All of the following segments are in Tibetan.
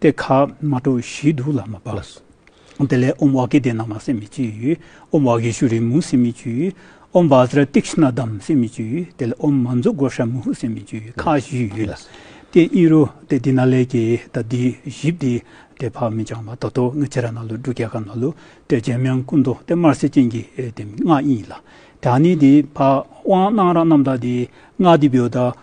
ཏེ་ཁ་མ་གྲོ་བཞིའི་དུག་ལ་མ་སྦ། དེ་ལས་ཨོམ་བྷ་གེ་དེ་ན་མ་སེ་མི་བཅུ། ཨོམ་བྷ་གེ་ཤུ་རི་མུ་སེ་མི་བཅུ། ཨོམ་བྷ་ཛ་ར་ཏིག་ཤི་ན་དམ་སེ་མི་བཅུ། དེ་ལས་ཨོམ་མ་མཛུ་གོ་ཤ་མུ་ཧུ་སེ་མི་བཅུ་ཁ་བཞི་ཡོད་ལ། ཏེ་ཨི་རུ་ཏེ་དེ་ན་ལས་ཀྱི་ད་དི་བཞི་བདེ། ཏེ་བྷ་མི་འབྱང་བ་ད་དོ་ངི་ཅི་ར་ན་ལུ་འབྲུ་ག་ག་ན་ལུ། ཏེ་རྗེ་མེང་སྐུ་མདོ་ཏེ་དམར་སེར་ཅན་གྱི་དེ་སྔགས་ཡིན་ལ། དེ་ཨ་ནི་དེ་བྷ་དབང་སྣང་ར་རྣམ་དག་དེ་སྔགས་དེ་བེའུ་ད།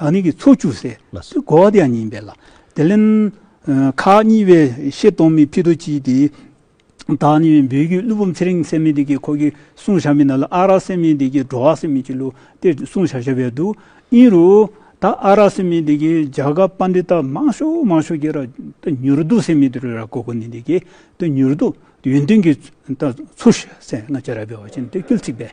ལག་ནི་གི་ཚོགས་བཅུ་སེ་ལ་སོགས་བསྒོ་བ་དེ་ཡང་ཉིན་པས་ལ། དེ་ལན། ཁ་གཉིས་པའི་བཤད་གཏོང་མི་ཕི་དོ་ཅིའི་དེ། བདག་ནི་བོད་ཀྱི་ཀླུ་འབུམ་ཚེ་རིང་སེ་མི་དེ་གི་ཁོ་གི་གསུང་བྱ་མི་ན་ལ་ཨ་རག་སེ་མི་དེ་གི་འགྲོ་བ་སེ་མི་གི་ལུ་དེ་གསུང་བྱ་བྱ་བས་འདུག་ཨིན་རུ། ད་ཨ་རག་སེ་མི་དེ་གི་འཇའ་ག་པ་འདི་ད་མང་ཤོ་མང་ཤོ་གི་ར་ད་མྱུར་དུ་སེ་མི་དེ་རུ་ར་གོ་གོ་ནི་དེ་གི་ད་མྱུར་དུ་ཡོན་ཏན་གི་ད་ཚུར་ཤ་སེ་ང་ཅ་ར་བས་བ་ཅན་དེ་ཀིལ་ཚིག་པས་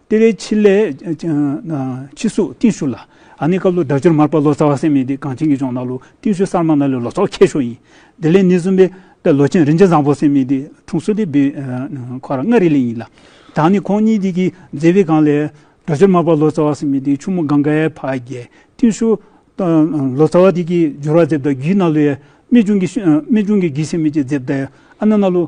ལྟེ་བའི་ཕྱི་ལས། ཕྱི་གཟུགས་བརྟུལ་ཞུགས་ལ། ཨ་ནི་སྐབས་ལོ་དགྲ་བཅོམ་མར་པ་ལོ་ཙཱ་བ་སེམས་མེད་དེ་གངས་ཅན་གྱི་ལྗོངས་ན་ལོ་བརྟུལ་ཞུགས་གསར་མ་ན་ལས་ལོ་ཙཱ་བ་མཁས་ཤོག་ཡིན། དེ་ལས་ནི་གསུམ་པའི་པའི་ལོ་ཆེན་རིན་ཆེན་བཟང་པོ་སེམས་མེད་དེ་འཁྲུངས་སུ་དེ་བུའི་ཁོ་ར་མངའ་རིས་ལས་ཡིན་ལ། དང་ནི་ཁོང་གཉིས་དེ་གིས་མཛད་པའི་སྒང་ལས། དགྲ་བཅོམ་མར་པ་ལོ་ཙཱ་བ་སེམས་མེད་དེ་ཕྱུག་མོ་གངྒཱ་ཡའི་ཕ་རྒྱལ་བརྟུལ་ཞུགས། ལོ་ཙཱ་བ་དེ་གིས་སྦྱོར་བ་མཛད་པ་དག་རྒྱུའི་ན་ལོའི། རྨད་བྱུང་གི་རྒྱུད་སེམས་མེད་ཀྱི་མཛད་པ་ཨ་ན་ན་ལོ།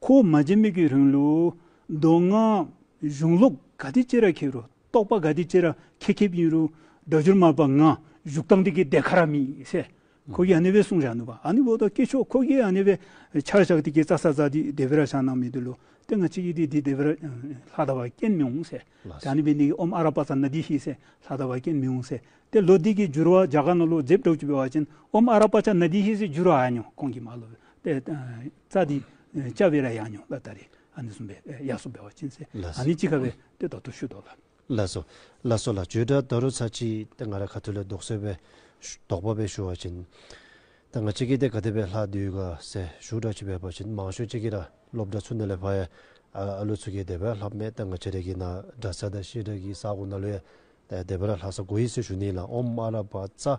ཁོ་བོ་མ་བྱེད་མིག་གི་རིང་ལུགས། མདོ་སྔགས། གཞུང་ལུགས་དགའ་བདེ་ཅེས་ར་ཁྱེར་རུ། རྟོགས་པ་དགའ་བདེ་ཅེས་ར་ཁྱེ་ཁེབ་ཡིན་རུ། སྒྲ་སྦྱོར་མ་པ་ང། བཞུགས་སྟངས་དེ་གི་དེ་ཁ་ར་མི་སེ། ཁོ་གི་ཨནི་བའི་གསུང་ར་ནུ་བ་ཨ་ནི་བོ་དོ་སྐྱེ་ཆོག་ཁོ་གི་ཨ་ནི་བའི། ཆར་ཞག་དེ་གི་རྩ་ས་ཛ་དི་དེ་བི་ར་ཞག་ནང་མི་དུ་ལུ། དེ་ང་ཅི་གི་དེ་དི་དེ་བི་ར། ལྷ་དང་བ་ཀན་མི་འོང་སེ། དེ་ཨ་ནི་བའི་ནི་གི་ཨོམ་ཨ་ར་པ་ཙ་ནི་དི་ཤི་སེ། ལྷ་དང་བ་ཀན་མི་འོང་སེ། དེ་ལོ་དི་གི་བསྒྱུར་བ་འཇའ་ག་ནོ་ལོ་རྫེབ་སྒྲོག་ཅི་བི་བ་ཅན་ཨོམ་ཨ་ར་པ་ཅ་ནི་དི་ཤི་སེ་བསྒྱུར་བ་ཨ་ཉོ་ཀོང་གི་མ་ལོ་བི་པེ། རྩ་འདི་ལྕགས་བེ་ར་ཡང་ཉོ་ལ་ད་རེ་ཨ་ནི་སུམ་བེ་གཡག་སོ་བེ་བ་ཅིན་སེ་ཨ་ནི་ཅི་ཁ་བེ་ཏེ་དོ་ཏོ་ཤུ་དོ་ལ། ལ་སོ། ལ་སོ་ལ་ཇོས་སྒྲ་ད་རུ་ཚ་ཅི་ཏེ་ང་ར་ཁ་ཐུ་ལེ་དོག་སོད་བེ། དོག་པ་བེ་ཤུ་བ་ཅིན། ད་ང་ཅི་ཁི་ཏེ་ག་ཏེ་བེ་ལྷ་དུས་ག་སེ་ཤུ་སྒྲ་ཅི་བེ་བ་ཅིན་མང་ཤོས་ཅི་ཁི་ར་སློབ་སྒྲ་ཚུ་ནེ་ལེ་བྷ་ཡ་ཨ་ཨ་ལུ་ཚུ་ཁི་ཏེ་བེ་ལྷབ་མེ་ད་ང་ཅི་རེ་ཁི་ན་སྒྲ་ས་ད་ཤི་ར་ཁི་ས་གོ་ན་ལུ་ཡ་ད་ཡ་ཏེ་བེ་ར་ལྷ་ས་གོ་ཡི་སེ་ཤུ་ནི་ལ་ཨོམ་ཨ་ར་བ་ཙ།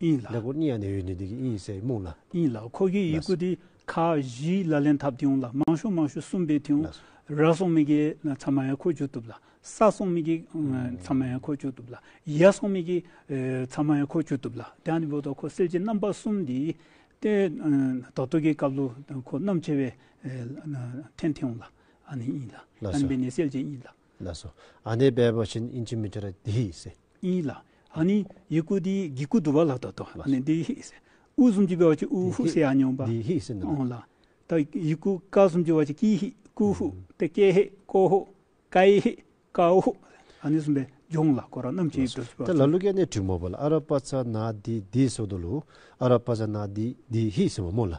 ཨིན་ལ། ལེགས་པོར་གཉིད་ཡ་ནས་ཡོད་ནི་འདི་གི་ཨིན་ཟེར་རྨུགས་ལ། ཨིན་ལ། ཁོ་གི་ཡིག་གུ་དེ་ཁ་བཞི་ལ་ལེན་ཐབས་དེའུ་ལ་མང་ཤོས་མང་ཤོས་གསུམ་པའི་དེའུ་ར་སོང་མི་གི་ཚང་མ་ཡ་ཁོ་བཅུག་ཐུབ་ལ་ས་སོང་མི་གི་ཚང་མ་ཡ་ཁོ་བཅུག་ཐུབ་ལ་ཡ་སོང་མི་གི་ཚང་མ་ཡ་ཁོ་བཅུག་ཐུབ་ལ་དེ་ནི་བོད་དོ་ཁོ་གསེར་གྱི་རྣམ་པ་གསུམ་འདི་ཏེ་དོ་སྟོད་ཀྱི་ཀབ་ལུ་ཁོ་རྣམ་ཆེ་བའི་ཐན་དེའུ་ལ་ཨ་ནི་ཨིན་ལ་ཨ་ནི་བེ་ནེ་སེལ་གྱི་ཨིན་ལ། ལ་སོ། ཨ་ནེ་བེ་བོ་ཆིན་ཨིན་ཆི་མི་ཏྲི་ར་དི་ཧི་སེ། ཨིན་ལ། ཨ་ནི་ཡི་ཀུ་དི་གི་ཀུ་དུ་བ་ལ་དོ་དོ་ཨ་ནེ་དི་ཧི་སེ། ཨུ་གསུམ་གྱི་བེ་བོ་ཆི་ཨུ་ཧུ་སེ་ཨ་ཉོན་བ། དི་ཧི་སེ་ནི་ལ། ཨོ་ལ། ཏ་ཡི་ཀུ་ཀ་གསུམ་གྱི་བ་ཆི་ཀི་ཧི་ཀུ་ཧུ་ཏི་ཀེ་ཧི་ཀོ་ཧུ་ཀ་ཡི་ཧི་ཀ་ཨུ་ཧུ། ཨ་ནི་གསུམ་པའི་ལྗོངས་ལ་ཀོ་ར་རྣམས་ཀྱི་ལ་ཡིག་སོ། ཏོ་ཞེས་པ་ཏི་ལ་ལུ་ཀེ་ནེ་ཏྲི་མོ་བ་ལ་ཨ་ར་པ་ཚ་ན་དི་དི་སོ་དོ་ལུ། ཨ་ར་པ་ཚ་ན་དི་དི་ཧི་སེ་བ་མོ་ལ།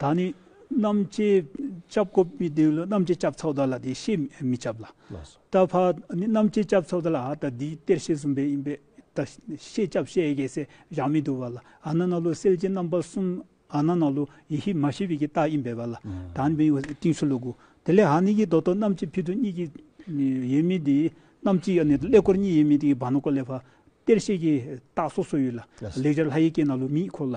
ད་ནི་རྣམ་བཅས་སྐྱབས་སྒོ་སྤེལ་ཏེ་རྣམ་བཅས་སྐྱབས་ཚོགས་བདག་ལ་དེ་ཤེས་མི་ཁྱབ་ལ། ད་བ་ནི་རྣམ་བཅས་སྐྱབས་ཚོགས་བདག་ལ་ཨ་ད་དེའི་གཏེར་ཤེས་གསུམ་པའི་ཡིན་པས་ད་ཤེས་སྐྱབས་ཤེས་ཨེ་གེ་སེ་བཞག་མི་འདུག་བ་ལ་ཨ་ན་ན་ལུ་སེལ་གྱི་རྣམ་པ་གསུམ་ཨ་ན་ན་ལུ་ཡེ་ཤེས་མ་ཤེས་པའི་གྱི་རྟགས་ཡིན་པས་བ་ལ་ད་ནི་བའི་ཏིང་ཤུ་ལུ་དགུ་དེ་ལས་ཨ་ནི་གྱི་རྡོ་དོ་རྣམ་བཅས་ཕི་དོ་གཉིས་ཀྱི་ཡོད་མི་དེའི་རྣམ་བཅས་ཨ་ནི་ལས་སྐོར་གཉིས་ཡོད་མི་དེའི་བ་ན་ཀོ་ལས་བ་གཏེར་ཤེས་ཀྱི་རྟགས་སོ་སོ་ཡོད་ལ་ལེགས་སྦྱར་ལྷ་ཡེ་ཀེ་ན་ལུ་མིའི་འཁོར་ལ་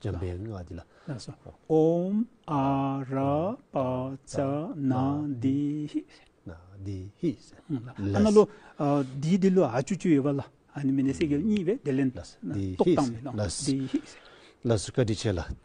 འཇམ་པའི་སྔགས་འདི་ལ། ཨོམ་ཨ་ར་པ་ཙྪ་ན་དེ་ཧི། ན་དེ་ཧི། ཨ་ན་ལོ། དེའི་དེ་ལོ་ཨ་ཅུ་ཅུ་ཡོད་པ་ལ་ཨ་ནི་མི་ནི་སེ་གེ་ལ་གཉིས་པས་དེ་ལན། ཏོག་དང་མི་ལ། དེ་ཧི། ལ་སུ་ཀ་དྲི་བྱས་ལ།